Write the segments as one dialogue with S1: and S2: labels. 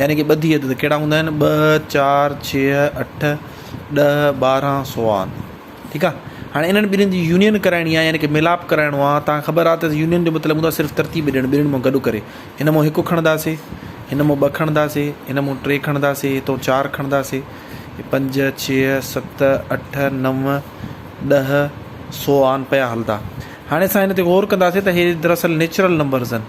S1: يعني ڪي ٻڌي عدد ڪهڙا هوندا آهن ٻه چار ڇهه اٺ ڏهه ٻارهن سوان ٺيڪ آ هاڻي انهن ٻنهين جي يونين ڪرائڻي آ يعني ڪي ملاپ ڪرائڻو آ تان خبر آ ته يونين جو مطلب هوندا صرف ترتيب ڏيڻ ٻنهين مان گڏ ڪري هن مان هڪ کڻنداسي هن مان ٻه کڻنداسي هن مان ٽي کڻنداسي هتو چار کڻنداسي پنج ڇهه ست اٺ نو ڏهه سوان پيا هلدا هاڻي اسان هن تي غور ڪنداسي ته هي دراصل نيچرل نمبرز آهن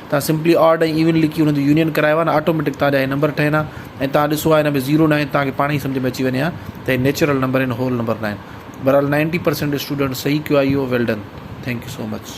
S1: توهان سمپلي آڊ ۽ ايون لکي انهن جو يونين ڪرايو ها نه آٽوميٽڪ توهان جا هي نمبر ٺهن ها ۽ توهان ڏسو ها هن ۾ زيرو ناهي توهان کي پاڻ ئي سمجهه ۾ اچي وڃي ها ته هي نيچرل نمبر آهن هول نمبر ناهن بهرحال نائنٽي پرسينٽ اسٽوڊنٽ صحيح ڪيو آهي اهو well done thank you so much.